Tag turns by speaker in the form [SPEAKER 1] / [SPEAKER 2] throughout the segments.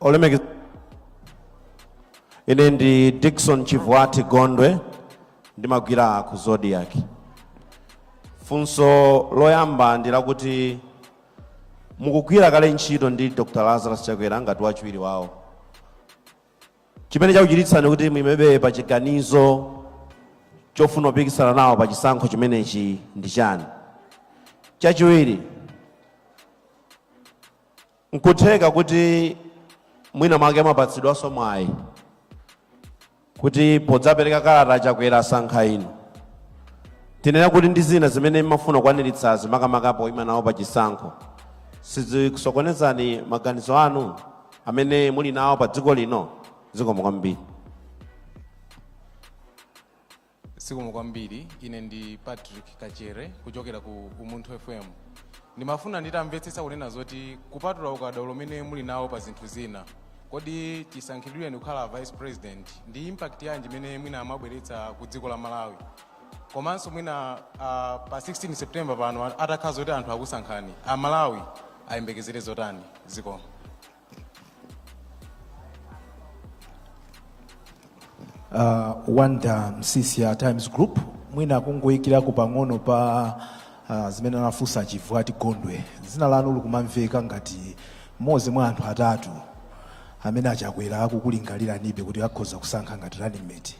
[SPEAKER 1] olemekeza ine ndi dickson chivwati gondwe ndimagwira ku zodiac funso loyamba ndi lakuti mukugwira kale ntchito ndi dr lazarus chakwera ngati wachiwiri wawo chimene chakuchititsani kuti muimebe pa chiganizo chofuna kupikisana nawo pa chisankho chimenechi ndi chani chachiwiri nkutheka kuti mwina mwake mwapatsidwanso mwayi kuti podzapereka kalata chakwera asankha inu tinene kuti ndi zina zimene mmafuna kukwaniritsazi makamaka poima nawo pa chisankho sizikusokonezani maganizo anu amene muli nawo pa dziko lino zikomo kwambiri zikomo kwambiri ine ndi patrick kachere kuchokera ku umunthu fm ndimafuna nditamvetsetsa kunena zoti kupatula ukadaulo umene muli nawo pa zinthu zina kodi chisankhidwireni kukhala vice president ndi impact yanji imene mwina mwabweretsa ku dziko la malawi komanso mwina uh, pa 16 september pano atakhala zoti anthu akusankhani amalawi ayembekezere zotani zikomo uh, wonder msiska times group mwina kungoyikirako pang'ono pa uh, zimene anafunsa a chivwati gondwe dzina lanu likumamveka ngati mmodzi mwa anthu atatu amene achakwera akukulingaliranibe kuti akhoza kusankha ngati running mate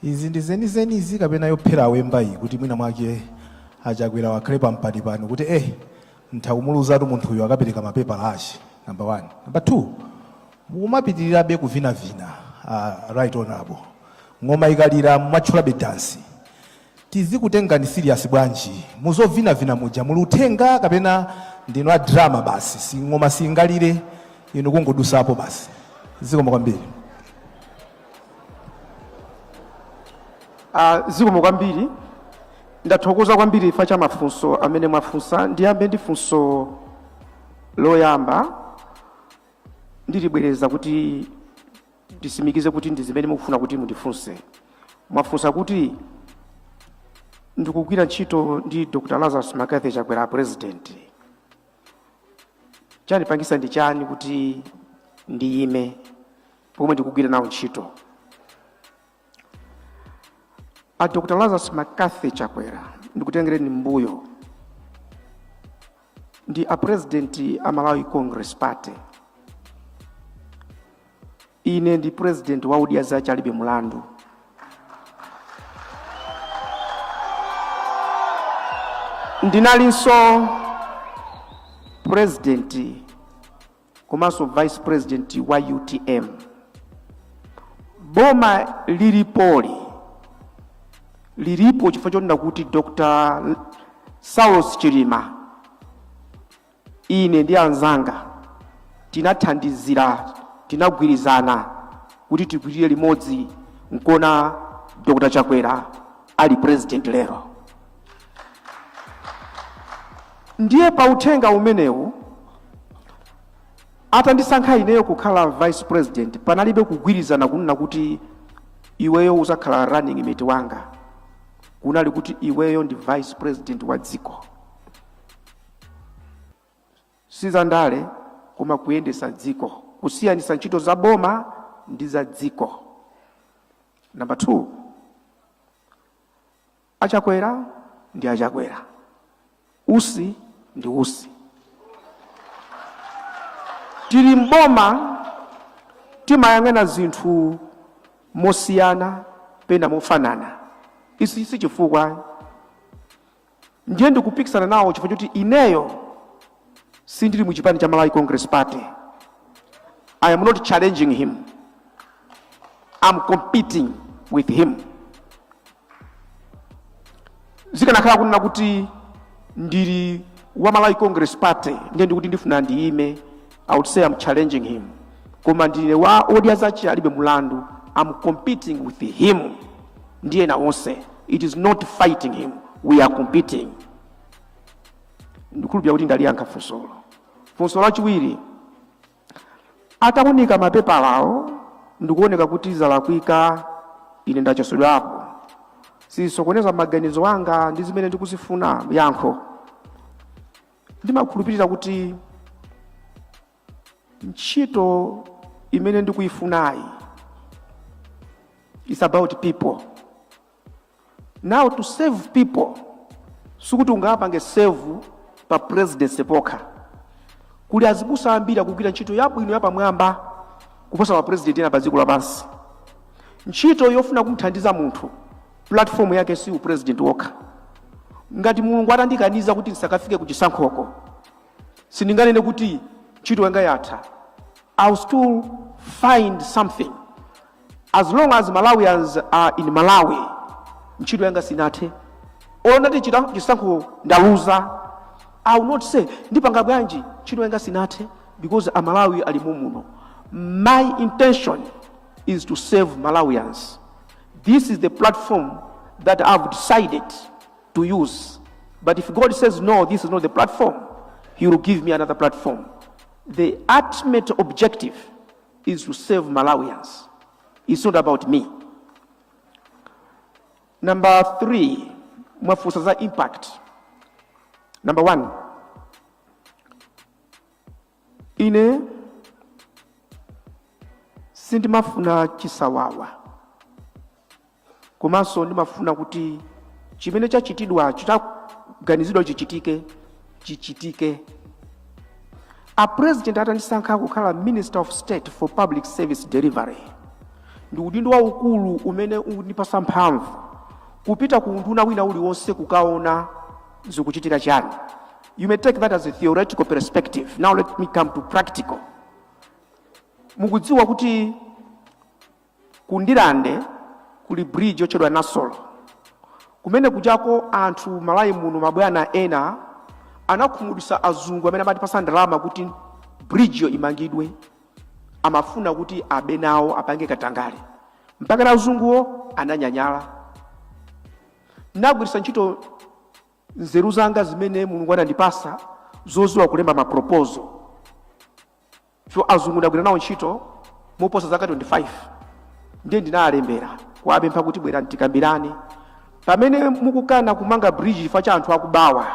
[SPEAKER 1] Izi ndi zenizeni izi kapena yophera awemba iyi kuti mwina mwake achakwerawa akhale pampanipani kuti eh ntha kumuluzatu munthuyu akapereka mapepala ache number one number two mukumapitirirabe kuvinavina uh, right honorable ng'oma ikalira mumatchulabe dansi tizikutengani serious bwanji mu zovinavinamuja? Muli uthenga kapena ndinu a drama basi? Si ng'oma siingalire inu kungodusapo basi. Zikomo kwambiri. Ah, zikomo kwambiri ndathokoza kwambiri chifukwa cha mafunso amene mwafunsa ndiyambe ndi funso loyamba ndilibwereza kuti ndisimikize kuti ndi zimene mukufuna kuti mundifunse mwafunsa kuti ndikugwira ntchito ndi dr lazarus mccarthy chakwera president chandipangitsa ndi chani kuti ndiyime pomwe ndikugwira nawo ntchito a dr lazarus mccarthy chakwera ndikutengereni mbuyo ndi a president a malawi congress party ine ndi president wa odya zake alibe mulandu ndinalinso president komanso vice president wa utm boma lilipoli lilipo chifukwa chonena kuti dr saulos chilima ine ndi anzanga tinathandizira tinagwirizana kuti tigwirire limodzi nkuona dr chakwera ali president lero ndiye pa uthenga umenewu atandisankha ineyo kukhala vice president panalibe kugwirizana kunena kuti iweyo uzakhala running mate wanga kunali kuti iweyo ndi vice president wa dziko sizandale koma kuyendesa dziko kusiyanisa ntchito za boma ndi za dziko number two Achakwera ndi achakwera, Usi ndi Usi. Tili m'boma timayang'ana zinthu mosiyana pena mofanana, ichi si chifukwa ayi. Ndiye ndikupikisana nawo chifukwa chakuti ineyo sindili mu chipani cha Malawi Congress Party. I am not challenging him. I'm competing with him. zikanakhala kunena kuti ndili wa malawi congress party ndiye ndikuti ndifuna ndiyime i would say i'm challenging him koma ndine wa odya zake alibe mulandu i'm competing with him ndiye na onse it is not fighting him we are competing ndikhulupira kuti ndaliyankha funsolo funso lachiwiri Ataunika mapepalawo ndikuoneka kuti zalakwika, ine ndachotsedwapo. Sizisokoneza maganizo anga ndi zimene ndikuzifuna yankho. Ndimakhulupirira kuti ntchito imene ndikuifunayi it's about people. Now to serve people sikuti ungapange serve pa presidency pokha. Kuli azibusa ambiri akugwira ntchito yabwino yapamwamba kuposa ma president ena pa dziko lapansi. Ntchito yofuna kumthandiza munthu platform yake si u president wokha. Ngati Mulungu atandikaniza kuti ndisakafike ku chisankhoko, sindinganene kuti ntchito yanga yatha. I'll still find something as long as malawians are in malawi ntchito yanga sinathe olo nditati chisankho ndaluza i will not say ndipanga bwanji ntchito yanga sinathe because amalawi ali mumuno my intention is to serve malawians this is the platform that i've decided to use but if god says no this is not the platform he will give me another platform the ultimate objective is to save Malawians. It's not about me. Number three, mwafunsa za impact. Number one, ine sindimafuna chisawawa komanso ndimafuna kuti chimene chachitidwa chitaganizidwa chichitike chichitike a president atandisankha kukhala minister of state for public service delivery ndi udindo waukulu umene undipasa mphamvu kupita ku unduna wina uliwonse kukaona zikuchitika chani you may take that as a theoretical perspective now let me come to practical mukudziwa kuti Ku Ndirande kuli bridge yotchedwa Nasolo. Kumene kujako anthu Malawi muno mabwana ena anakhumudwisa azungu amene amatipasa ndalama kuti bridgeyo imangidwe. Amafuna kuti abe nawo apange katangale. Mpaka na azunguwo ananyanyala. Nagwirisa ntchito nzeru zanga zimene Mulungu anandipasa zoziwa kulemba ma proposal. so azungu ndagwira nawo ntchito moposa zaka 25 ndiye ndinalembera kuwapempha kuti bwerani tikambirane pamene mukukana kumanga bridge chifukwa cha anthu akubawa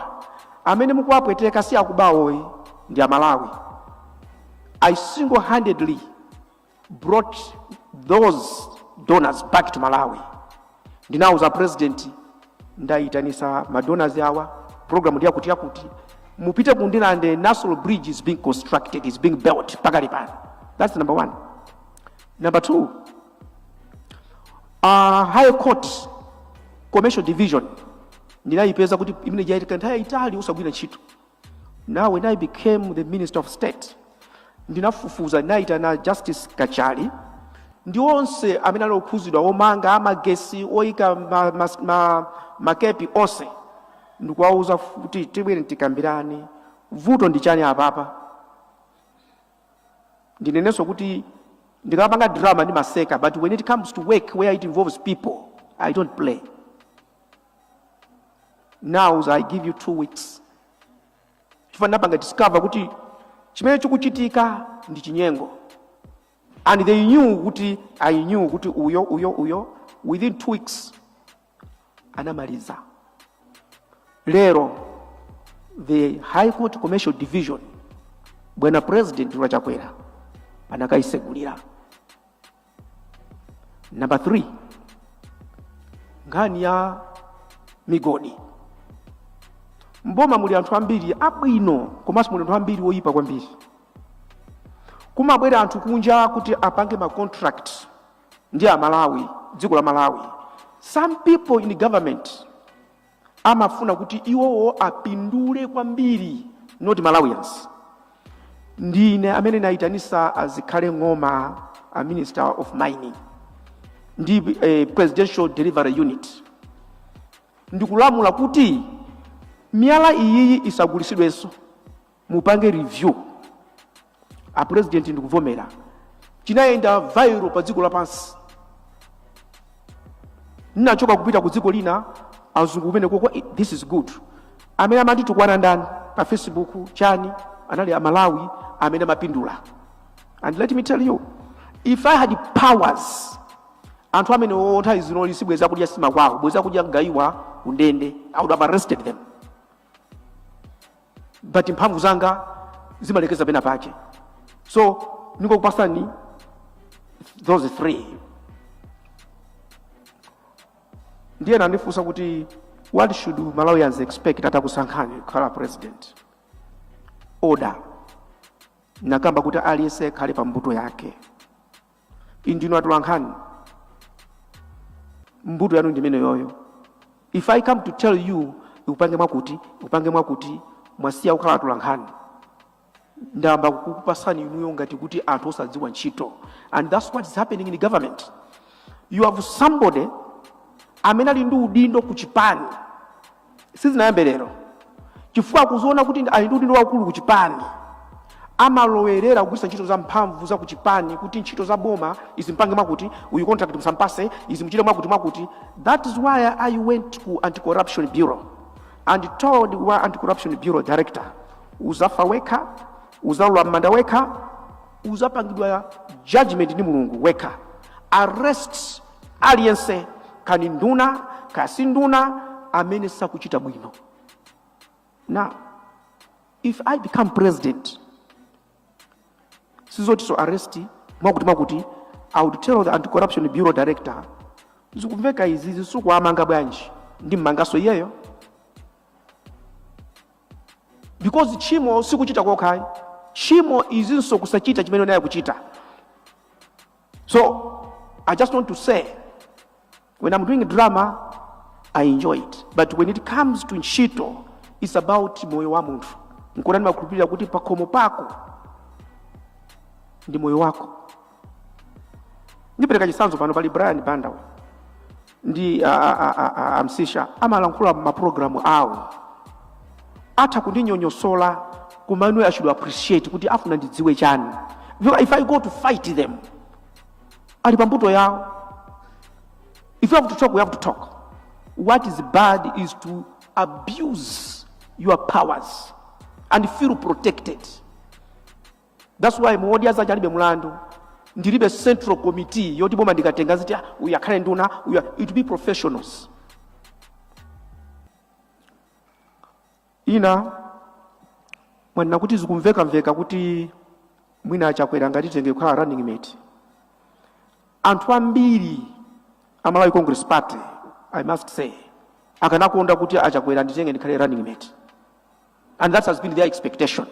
[SPEAKER 1] amene mukuwapweteka si akubawo ayi ndi amalawi i single handedly brought those donors back to malawi ndinauza president ndaitanisa madonors awa program ndi yakuti yakuti mupite ku ndirande nasolo bridge is being constructed is being built pakali pano that's number one number two uh, high court commercial division ndinayipeza kuti imene ija yatenga nthawi yaitali osagwira ntchito Now when I became the Minister of State, ndinafufuza ndinayitana Justice Kachali ndi onse amene ali okhuzidwa omanga amagesi oyika ma, ma, ma, makapeti onse ndikuwauza kuti tibwere tikambirane vuto ndi chani apapa ndinenenso kuti ndikamapanga drama ndimaseka but when it comes to work where it involves people i don't play now i give you two weeks chifukwa ndapanga discover kuti chimene chikuchitika ndi chinyengo and they knew kuti i knew kuti uyo uyo uyo within two weeks anamaliza lero the high court commercial division bwana president a chakwera anakayisegulira Number 3 nkhani ya migodi. Mboma muli anthu ambiri abwino komanso muli anthu ambiri oyipa kwambiri. Kumabwera anthu kunja kuti apange ma contract ndi a Malawi, dziko la Malawi. Some people in government amafuna kuti iwowo apindule kwambiri not malawians ndine amene ndinayitanitsa a Zikhale Ng'oma a minister of mining ndi eh, presidential delivery unit ndikulamula kuti miyala iyiyi isagulisidwenso mupange review a president ndikuvomera chinayenda viral pa dziko lapansi ndinachoka kupita ku dziko lina azungu kumene koko "Eh, this is good amene amanditukwana ndani pa facebook chani anali amalawi amene amapindula and let me tell you if i had powers anthu amene otha zinoli sibweza kudya sima kwawo bweza kudya mgayiwa kundende i would have arrested them but mphamvu zanga zimalekeza pena pache so ndingokupasani those three ndiye mwandifunsa kuti what should malawians expect atakusankhani kukhala president order ndakamba kuti aliyense akhale pa mbuto yake Inu ndinu atolankhani, mbuto yanu ndimene yoyo. If I come to tell you izi mupange mwakuti izi mupange mwakuti, mwasiya kukhala atolankhani, ndayamba kukupangani inuyo ngati kuti anthu osadziwa ntchito, and that's what is happening in government. You have somebody amene ali ndi udindo ku chipani sizinayambe lero chifukwa akuziona kuti ali ndi udindo waukulu ku chipani amalowerera kugwiritsa ntchito za mphamvu za kuchipani kuti ntchito za boma izi mpange mwakuti uyu contract musampase izi muchite mwakuti mwakuti that is why i went ku anti-corruption bureau and told wa anti-corruption bureau director uzafa wekha uzalowa m'manda wekha uzapangidwa judgment ndi mulungu wekha arrest aliyense kaya ndi nduna kaya si nduna amene sakuchita bwino now if i become president sizoti so arrest mwakuti mwakuti i would tell the anti-corruption bureau director zikumveka izizi simukuwamanga bwanji ndi mmanganso iyeyo because chimo sikuchita kokha ayi chimo ndinso kusachita chimene unayenera kuchita So I just want to say, when I'm doing drama, I enjoy it. But when it comes to ntchito, it's about moyo wa munthu. Nkona ndimakhulupirira kuti pakhomo pako ndi moyo wako. Ndipereka chitsanzo pano pali Brian Banda uyu. ndi a, a, a, a, a, amsisha amalankhula mapulogalamu awo atha kundinyonyosola koma ineyo i should appreciate kuti afuna ndidziwe chani because if i go to fight them ali pambuto yawo if you have to talk we have to talk what is bad is to abuse your powers and feel protected That's why m'modya zache alibe mlandu. Ndilibe central committee yoti boma ndikatenga ziti ah, uyu akhale nduna uyu it be professionals. Ina mwanena kuti zikumveka mveka kuti mwina achakwera angatitenge kukhala running mate. Anthu ambiri a Malawi Congress Party I must say akanakonda kuti achakwera nditenge ndikhale running mate. and that has been their expectation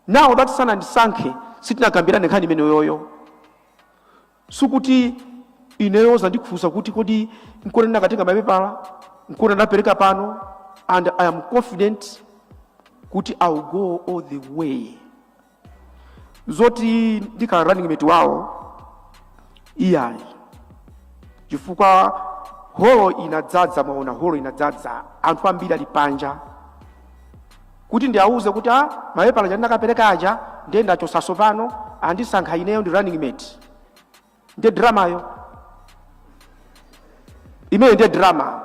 [SPEAKER 1] now that sanandisankhe sitinakambirane nkhani imeneyoyo sikuti ineyo mzandifunsa kuti kodi nkona ndinakatenga mapepala nkona ndapereka pano and i am confident kuti i will go all the way zoti ndikhala running mate wawo iyayi chifukwa holo inadzadza mwaona holo inadzadza anthu ambiri ali panja kuti ndiawuze kuti a mapepala aja ndinakapereka aja ndiye ndachosaso pano andisankha ineyo ndi running mate ndiye dramayo imeyo ndiye drama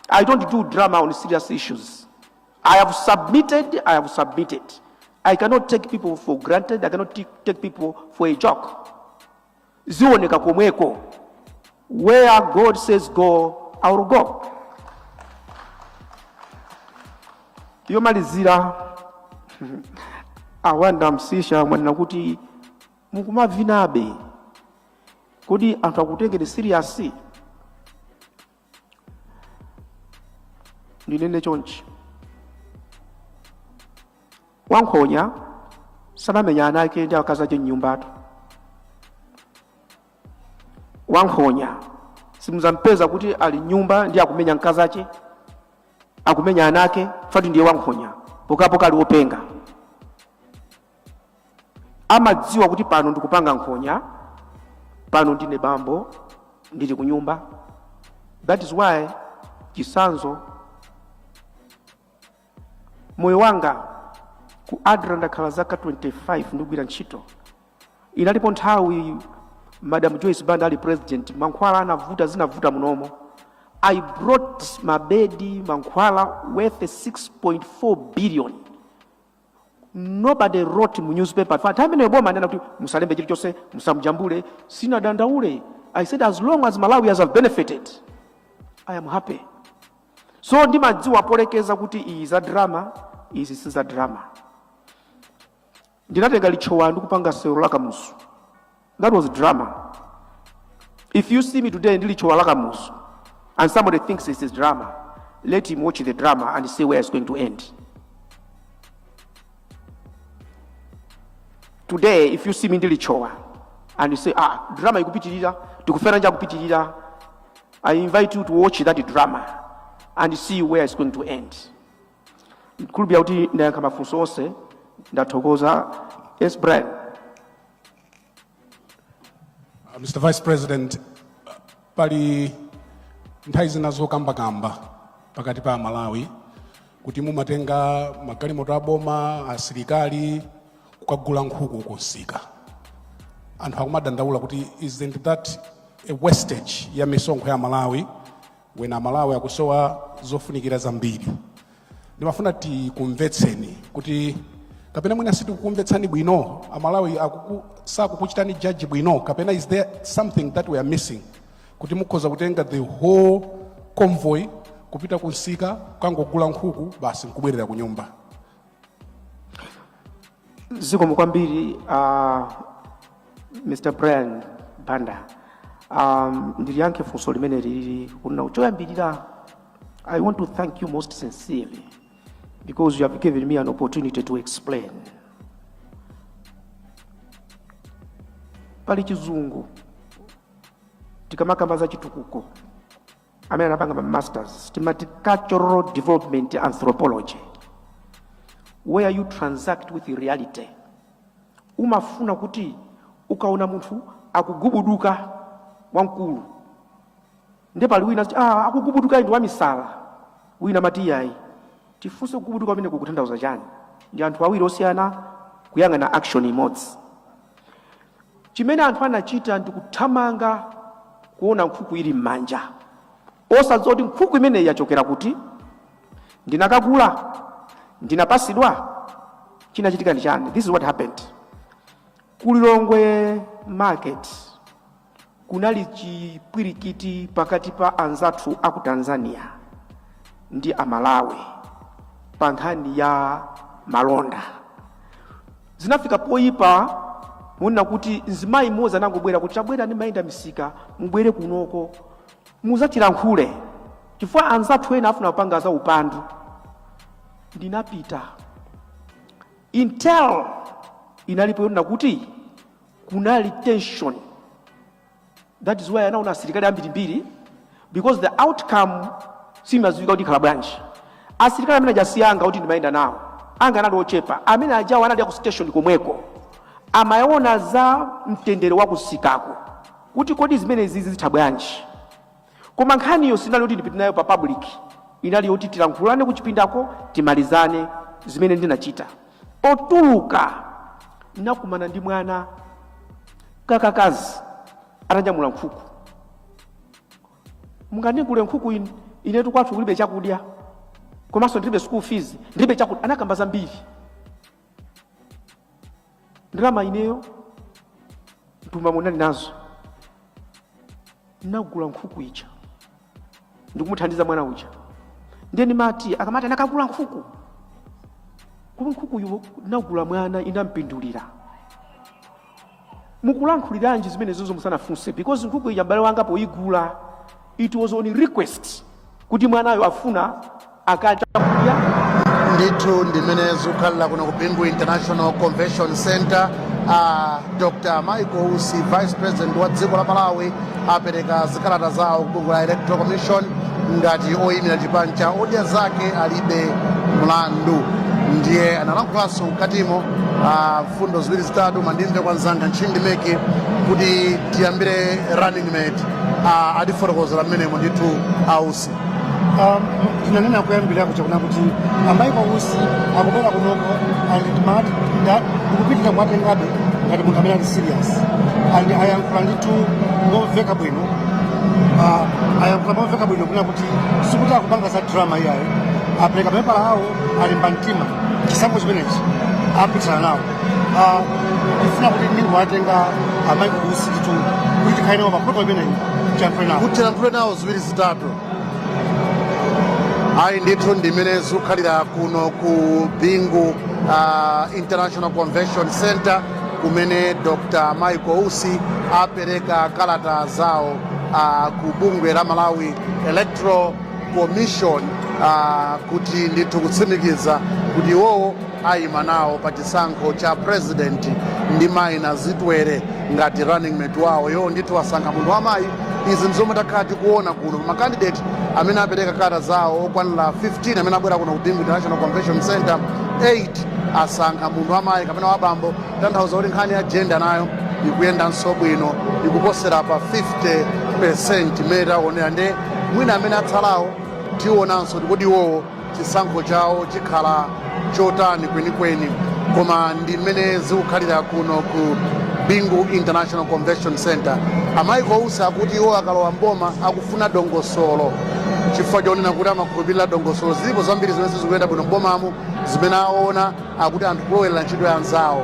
[SPEAKER 1] i don't do drama on serious issues i have submitted i have submitted i cannot take people for granted i cannot t- take people for a joke zioneka komweko where god says go i will go yomalizira awanda msisha mwanena kuti mukumavinabe kodi anthu akutengeni serious ndinene chonchi wankhonya samamenya ana ake ndi akazi ake mnyumbatu wankhonya simudzampeza kuti ali mnyumba ndi akumenya mkazi ake akumenya ana ake fati ndiye wankhonya pokapoka ali wopenga amadziwa kuti pano ndikupanga nkhonya pano ndine bambo ndili ku nyumba that is why chisanzo moyo wanga ku adra ndakhala zaka 25 ndikugwira ntchito inalipo nthawi madam joyce banda ali president mankhwala anavuta zinavuta munomo i brought mabedi mankhwala worth 6.4 billion nobody wrote mu newspaper pa time ineyo boma anena kuti musalembe chilichonse musamjambule sinadandaule i said as long as malawians have benefited i am happy so ndimadziwa polekeza kuti iyi za drama izi si za drama ndinatenga litchowa ndikukapanga sewero la kamuzu That was drama. If you see me today ndili chowa lakamuzu and somebody thinks this is drama, let him watch the drama and see where it's going to end. Today if you see me ndili chowa and you say ah drama ikupitirira tikufera nja kupitirira I invite you to watch that drama and see where it's going to end. Kulubya kuti ndayankha mafunso onse ndathokoza. Yes Brian. Uh, Mr. Vice President, uh, pali nthawi zina zokambakamba pakati pa Amalawi kuti mumatenga magalimoto aboma asilikali kukagula nkhuku kumsika anthu akumadandaula kuti isn't that a wastage ya misonkho ya Amalawi when amalawi akusowa zofunikira zambiri ndimafuna tikumvetseni kuti kapena mwina sitikukumvetsani bwino amalawi akuku, sakukuchitani judge bwino kapena is there something that we are missing kuti mukhoza kutenga the whole convoy kupita kumsika kukangogula nkhuku basi nkubwerera kunyumba zikomo kwambiri uh, mr brian banda um, ndiliyankhe funso limene koma choyambirira i want to thank you most sincerely because you have given me an opportunity to explain pali chizungu tikamakamba za chitukuko amene anapanga ma masters timati cultural development anthropology where you transact with reality umafuna kuti ukaona munthu akugubuduka wamkulu nde pali wina amati, ah, akugubuduka ndi wamisala wina amati yayi tifunse kugubuduka kumene kukutanthauza chani ndi anthu awiri osiyana kuyang'ana action imodzi Chimene anthu anachita ndi kuthamanga kuona nkhuku ili m'manja, osadziwa kuti nkhuku imeneyi yachokera kuti, ndinakagula, ndinapatsidwa, chinachitika ndi chani? This is what happened ku Lilongwe market. Kunali chipwirikiti pakati pa anzathu aku Tanzania ndi Amalawi pa nkhani ya malonda. Zinafika poyipa monena kuti mzimayi mmodzi anangobwera kuti chabwera ndimayenda misika mubwere kunoko muzatilankhulire chifukwa anzathu ena afuna kupanga za upandu. Ndinapita intel inalipo yonena kuti kunali tension that is why anaona asilikali ambirimbiri because the outcome simadziwika kuti ikhala bwanji asilikali amene aja si anga kuti ndimayenda nawo anga anali ochepa amene ajawo anali aku station komweko amaona za mtendere wakumsikako kuti kodi zimenezi zizitha bwanji Koma nkhaniyo sinali yoti ndipite nayo pa public, inali yoti tilankhulane kuchipindako timalizane. Zimene ndinachita, potuluka ndinakumana ndi mwana kakakazi atanyamula nkhuku. Mungandigule nkhuku inu? Inetu kwathu kulibe chakudya komanso ndilibe school fees, ndilibe chakudya. Anakamba zambiri. ndalama ineyo mthumbamo ndinali nazo nagula nkhuku ija ndikumuthandiza mwana uja ndiye ndimati akamati anakagula nkhuku kodi nkhukuyo nagula mwana inampindulira mukulankhuliranji zimenezozo musanafunse because nkhuku ija m'bale wanga poyigula it was on request kuti mwanayo afuna akadye chakudya ndithu ndimene zikukhalira kuno ku bingu international convention center a dr michael usi vice president wa dziko la malawi apereka zikalata zawo ku bungwe la electoral commission ngati oyimira chipani cha odya zake alibe mlandu ndiye analankhulanso mkatimo a mfundo ziwiri zitatu koma ndimve kwa mzanga ntchindi meki kuti tiyambire running mate ah, atifotokozera mmenemo ndithu a usi Um, tinanena kuyambira kuja kuna kuti a michael usi akubwera kunoko and mat that ndikupitira kuwatengabe ngati munthu amene ali serious and ayankhula ndithu ngomveka bwino Ah, ayankhula momveka bwino kuna kuti sikuti akupanga za drama iyayi apereka mapepala awo alimba mtima chisankho chimenechi apikisana nawo Ah, ndifuna kuti ndingowatenga a michael usi ndithu kuti tikhale nawo pa program imeneyi tiyankhule nawo kuti tiyankhule nawo ziwiri zitatu ayi ndithu ndimene zikukhalira kuno ku bingu ah, international convention center kumene dr michael usi apereka kalata zawo ah, ku bungwe la malawi electoral commission uh, kuti ndithu kutsimikiza kuti iwowo ayima nawo pa chisankho cha president ndi mayi nazitwere ngati running mate wawo iwo ndithu asankha munthu wamayi izi ndizomwe takhala tikuona kuno pa makandidate amene apereka kalata zawo okwanira 15 amene abwera kuno ku bingu international convention center 8 asankha munthu wamayi kapena wabambo tanthauza kuti nkhani ya jenda nayo ikuyendanso bwino ikuposera pa 50 percent imene taonera nde mwina amene atsalawo tionanso kuti kodi iwowo chisankho chawo chikhala chotani kwenikweni koma ndi mmene zikukhalira kuno ku bingu international convention center a michael usi akuti iwo akalowa mboma akufuna dongosolo chifukwa chonena kuti amakhulupirira dongosolo zilipo zambiri zimene sizikuyenda bwino mbomamo zimene aona akuti anthu kulowerera ntchito ya anzawo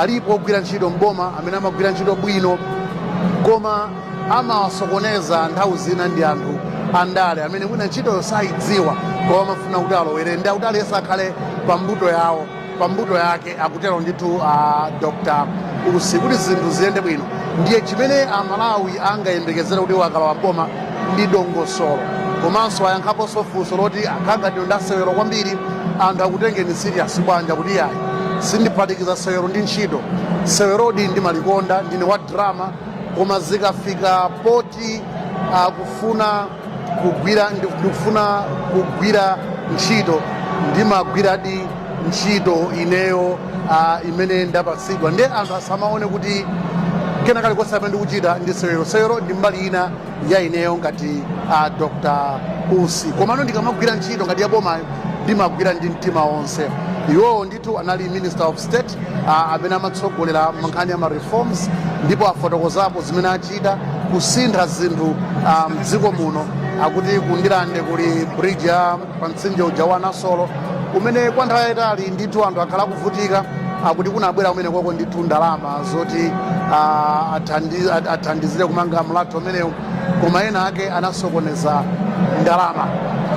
[SPEAKER 1] alipo ogwira ntchito mboma amene amagwira ntchito bwino koma amawasokoneza nthawi zina ndi anthu andale amene mwina ntchitoyo sayidziwa koma amafuna kuti alowerere ndiye akuti aliyense akhale pa mbuto yawo pa mbuto yake akutero ndithu a dr usi kuti zinthu ziyende bwino ndiye chimene amalawi angayembekezere kuti iwo akalowa m'boma ndi dongosolo komanso ayankhaponso funso loti akhala ngati ndi asewero kwambiri anthu akutengeni serious bwanji kuti yayi sindiphatikiza sewero ndi ntchito sewerodi ndimalikonda ndine wa drama koma zikafika poti akufuna kugwira ndikufuna kugwira ntchito ndimagwiradi ntchito ineyo uh, imene ndapatsidwa ndiye anthu asamaone kuti kena kali konse kamene ndikuchita ndi sewero sewero ndi mbali ina ya ineyo ngati uh, dr usi komano ndikamagwira ntchito ngati yabomayo ndimagwira ndi mtima wonse iwowo ndi Ndithu anali minister of state ah, amene amatsogolera nkhani ya ma reforms ndipo afotokozapo zimene achita kusintha zinthu ah, mdziko muno akuti ku Ndirande kuli bridge ya pa mtsinje uja wa nasolo umene kwa nthawi yayitali ndithu anthu akhala akuvutika akuti kunabwera kumenekoko ndithu ndalama zoti ah, athandi- athandizire kumanga mlatho umenewo koma ena ake anasokoneza ndalama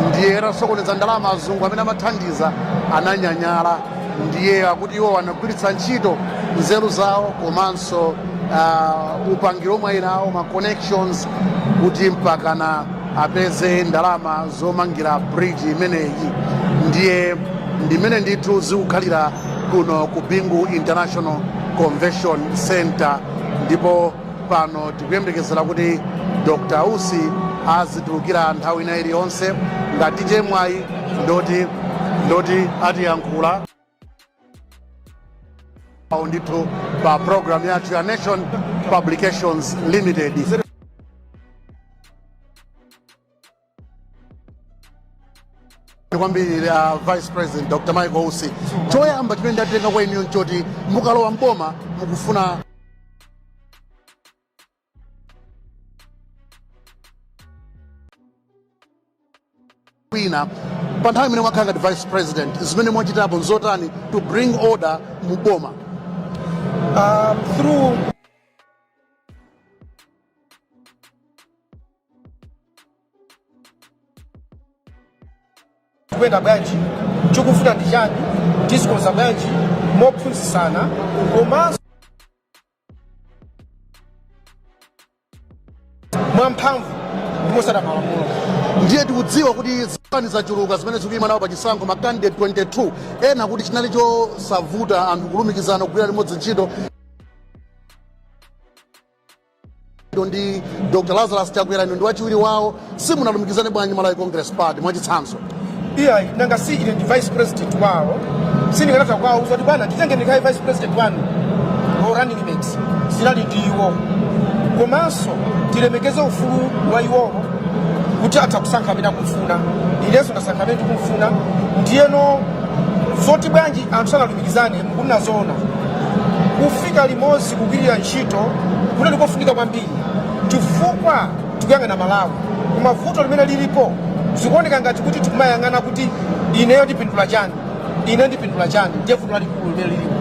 [SPEAKER 1] ndiye atasokoneza ndalama azungu amene amathandiza ananyanyala ndiye akuti iwo anagwiritsa ntchito nzeru zawo komanso uh, upangiro omwe ali nawo ma connections kuti mpakana apeze ndalama zomangira bridge imeneyi ndiye ndimene ndithu zikukhalira kuno ku bingu international convention center ndipo pano tikuyembekezera kuti dr usi azitulukira nthawi ina iliyonse ngati tichite mwayi ndoti ndoti atiyankhula Au ndithu pa program yathu ya nation publications limited kwambiri la vice president dr michael usi choyamba chimene ndatenga kwa inuyo nchoti mukalowa mboma mukufuna mwina pa nthawi imene mwakhala ngati vice president zimene mwachitapo nzotani to bring order mu boma Um, through tikuyenda bwanji chikuvuta ndi chani tizikonza bwanji mophunzitsana komanso mwamphamvu ndi potsata malamulo ndiye tikudziwa kuti zipani zachuluka zimene zikuyima nawo pa chisankho ma candidate 22 ena akuti chinali chosavuta anthu kulumikizana kugwira limodzi ntchito Inu ndi Dr. Lazarus Chakwera inu ndi wachiwiri wawo simunalumikizane bwanji Malawi Congress Party mwachitsanzo. iyayi nanga si ine ndi vice president wawo sindingatha kuwauza kuti bwana nditenge ndikhaye vice president wanu or running mate zinali ndi iwowo komanso tilemekeze ufulu wa iwowo kuti atha kusankha amene akumfuna inenso ndasankha amene ndikumfuna ndiyeno zoti bwanji anthu sanalumikizane mukuti nazoona kufika limodzi kugwirira ntchito kuti ndikofunika kwambiri chifukwa tikuyang'ana malawi koma vuto limene lilipo zikuoneka ngati kuti tikumayang'ana kuti ineyo ndipindula chani ineyo ndipindula chani ndiye vuto lalikulu limene lilipo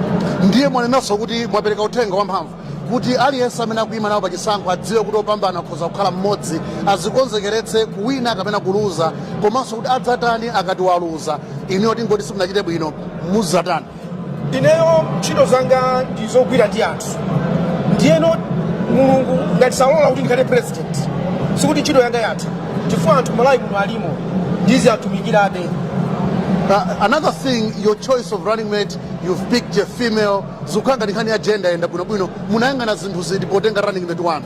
[SPEAKER 1] ndiye mwanenanso kuti mwapereka uthenga wamphamvu kuti aliyense amene akuyima nawo pa chisankho adziwe kuti opambana akhoza kukhala mmodzi azikonzekeretse kuwina kapena kuluza komanso kuti adzatani akati waluza inuyo tingoti simunachite bwino mudzatani ineyo ntchito zanga ndi zogwira ndi anthu ndiyeno mulungu ngati salola kuti ndikhale president sikuti ntchito yanga yatha chifukwa anthu malawi muno alimo ndiziwatumikirabe Uh, another thing, your choice of running mate, you've picked a female. Zukhala ngati nkhani ya gender yayenda bwino bwino. Munayang'ana zinthu ziti potenga running mate wanu.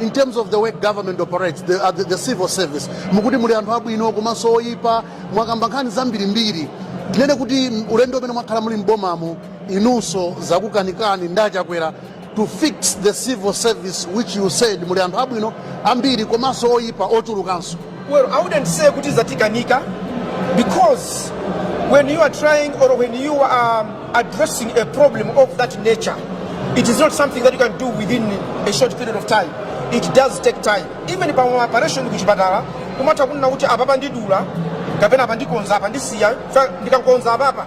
[SPEAKER 1] in terms of the way government operates the, uh, the, the civil service mukuti muli anthu abwino komanso oyipa mwakamba nkhani zambirimbiri tinene kuti m- ulendo umene mwakhala muli m'bomamo inunso zakukanikani ndi achakwera to fix the civil service which you said muli anthu abwino ambiri komanso oyipa ochulukanso Well, I wouldn't say kuti zatikanika because when you are trying or when you are addressing a problem of that nature, it is not something that you can do within a short period of time. It does take time. Even pa operation kuchipatala, kumatha kunena kuti apapa ndidula kapena apa ndikonza apa ndisiya fa- ndikakonza apapa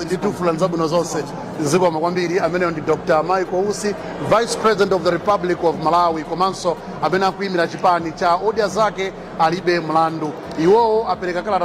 [SPEAKER 1] ndikufunirani zabwino zonse zikomo kwambiri ameneyo ndi dr michael usi vice president of the republic of malawi komanso amene akuyimira chipani cha odya zake alibe mlandu iwowo apereka kalata